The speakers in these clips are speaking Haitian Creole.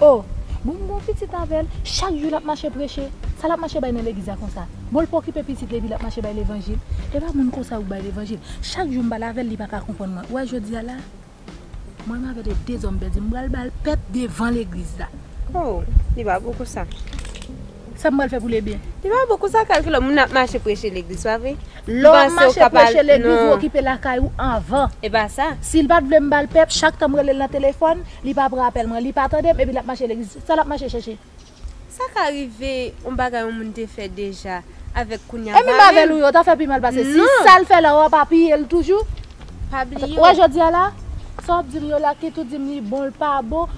Oh bon m gon pitit avèl chak jou lap mache preche sa lap mache bay nan legliz la konsa bon l pa okipe pitit li epi lap mache bay levanjil epa moun konsa yo k bay levanjil chak jou m pale avèl li paka konprann mwen ou wè jodia la mwen menm avèl e dezòm bèdi m pral bal pèp devan legliz la. Oh li pa gou konsa. Sa m pral fè pou Lebyen? Li pa bon konsa kalki lò moun ap mache preche legliz pa vre? Lè w mache preche legliz ou okipe lakay ou anvan. E pa sa. Si l pa t vle m ba l pep chak tan m rele l nan telefòn li pa pran apèl mwen li pa tande m epi l ap mache legliz sa l ap mache chèche? Sa ka rive yon bagay yon moun te fè deja avèk kounya pa menm. E menm avèl ou yo ta fè pi mal pase si sa l fè la ou ap apiye l toujou? Pa bliye w. Wè jodi a la sa w ap di m yo la ki tou di m li bon l pa bon.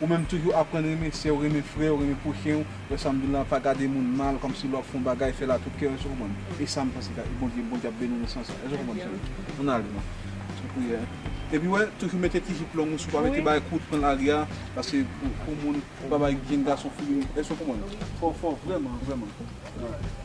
Ou menm toujou aprann renmen sèw renmen frèw renmen pwochen ou samdoullah pa gade moun mal kòmsi lè wap fè yon bagay fèl a tout kèw èske ou konprann esam panse e bondye bondye ap beniw nan sans sa èske ou konprann frèm ann ale nan priyè epi wè toujou mete ti jip long ou si ou pa mete bagay kout pranl aria paske pou moun pa bay jenn gason figi moun èske ou konprann fòw fò vrèman vrèman alright.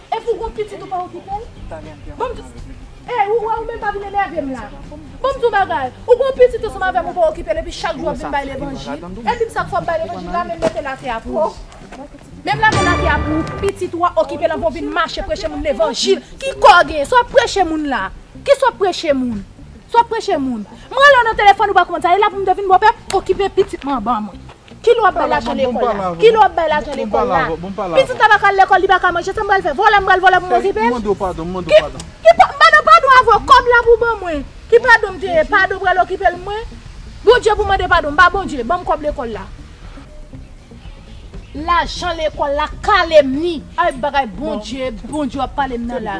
Epi ou gon pitit ou pa okipel? Banm di Ey ou wè ou menm pa vin enèvem la Banm di w bagay ou gon pitit ansanm avèm ou pa okipel epi chak jou wap vin bay levanjil Epim sak fòm bay levanjil la menm mete lakay a pou Menm lave lakay a pou pitit ou a okipel anvan ou vin mache preche moun levanjil ki kò ou genyen sa wap preche moun la Kisa wap preche moun Sa wap preche moun M rele w nan telefòn ou pa konn sa e la pou m te vin bòpè okipe pitit m anba mwen. Kilè wap bay lajan lekòl la? Kilè wap bay lajan lekòl la? Pitit la pa ka al lekòl li pa ka manje sa m pral fè? Vòlè m pral vòlè pou m okipe l? Ki pa, m pa nan padon avè w, kòb la pou w ban mwen. Ki padon m te ye? Padon pral okipe l mwen? Bondye pou mande padon, m pa Bondye, ban m kòb lekòl la. Lajan lekòl la kalem ni. Ay bagay Bondye, Bondye wap pale m nan la.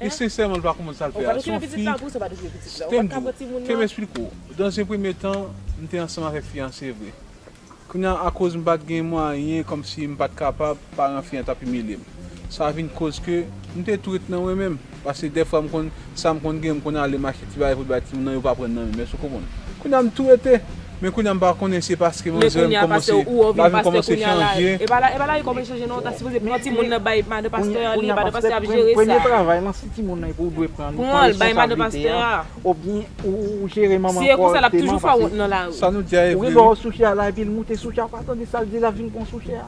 Li sensèman li pa konprann sa l fè a. Son fi Stem di w, ke m esplike w, dans un premier temps m te ansanm avèk fi an se vre. Kounye a akoz m pa t gen mwayen kòmsi m pa t kapab, paran fi an t ap imilye m. Sa vin koz ke m te tou ret nan mwen menm. Paske dèfwa m konn sa m konn gen m konn ale m achte ti bagay pou l bay timoun nan yo pa pran nan menm, èske w konprann. Kounye a m tou rete. Men kounya m pa konnen se paske mwen zèl m kòmanse la vi m kòmanse chanje. Premye travay lan si timoun nan epi ou dwe pran li pran responsabilite a oubyen ou jere manman an kòrèkteman pase sa nou di a e vre wi. Ou gen dwa ou sou chè a la epi l moute sou chè a ou pa tande sa l di l ap vin pran w sou chè a.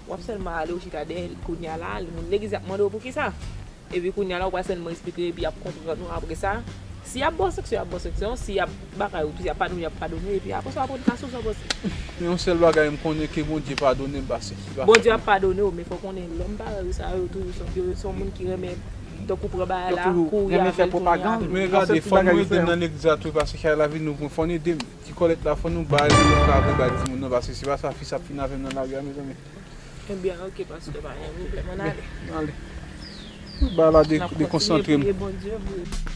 Wap sèlman ale ou chita dèyè li kounya la moun legliz ap mandew poukisa epi kounya la ou pral sèlman esplike epi yap konprann ou apresa si yap baw sanksyon yap baw sanksyon si yap bagay ou tou yap padone yap padone epi apresa wap rann kase ou san panse. Men yon sèl bagay m konnen ke Bondye padone m pase li pa fè Bondye ap padonew men fòw konnen lòm parèy ou sa yo toujou yo son moun ki renmen tankou pran bagay la kouri avèl tounen avèl. Men gade fò nou edem nan legliz la tou pase kay la vin louvri fòn edem. Ti kòlèt la fò nou bal pou nou ka vle bay timoun nan paske se pa sa fis ap fini avèm nan lari a mezanmi. Ebyen ok paske pa gen pwoblèm an ale. An ale. Ba la de de konsantre m. Nap kontinye priye Bondye pou ou.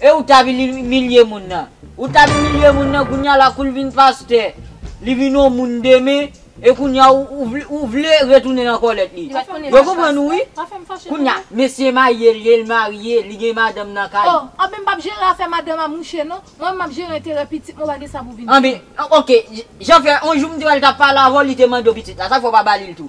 E ou ta vin imilye moun nan. Ou tap imilye moun nan kounya la koul vin pastè li vin yon moun demen e kounya ou vle retounen nan kòlèt li yo konprann ou wi kounya mesye maryel ye l marye li gen madanm nan kay li. Oh anben m pap jere afè madanm a mouche non, mwen menm map jere enterè pitit mwen ou pa gen sa pou vin diw. Anben ok jan fè yon jou m t wèl tap pale avèw li te mandew pitit la sak fè ou pa balil tou.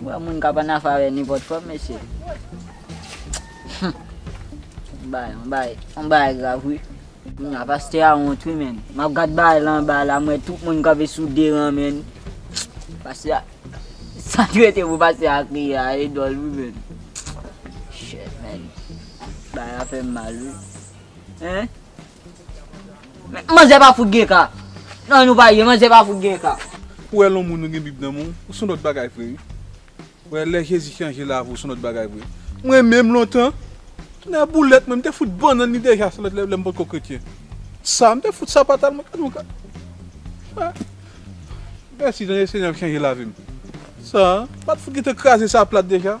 Bon moun kap an afe avè nenpòt fanm mesye Humm bagay yon bagay grav wi. Kounya pastè a wont wi menn map gad bagay la anba la m wè tout moun kanpe sou 2 ran menn pastè a sa ki rete pou pastè a kriye a e dòl wi menn Shit menn bagay la fèm mal wi hein. Manzè pa fout gen ka. Nan nou pa ye manzè pa fout gen ka. Ou wè lon moun ou gen bib nan menw ou son lòt bagay vre wi ou wè lè jezi chanje lavi ou son lòt bagay vre mwen menm lontan nan boulèt mwen m te fout bannann li deja se lè m potko kretyen sa m te fout sapata l mwen gad yon ka wè mèsi senyè m chanje lavim sa m pat fout gentan kraze sa plat deja.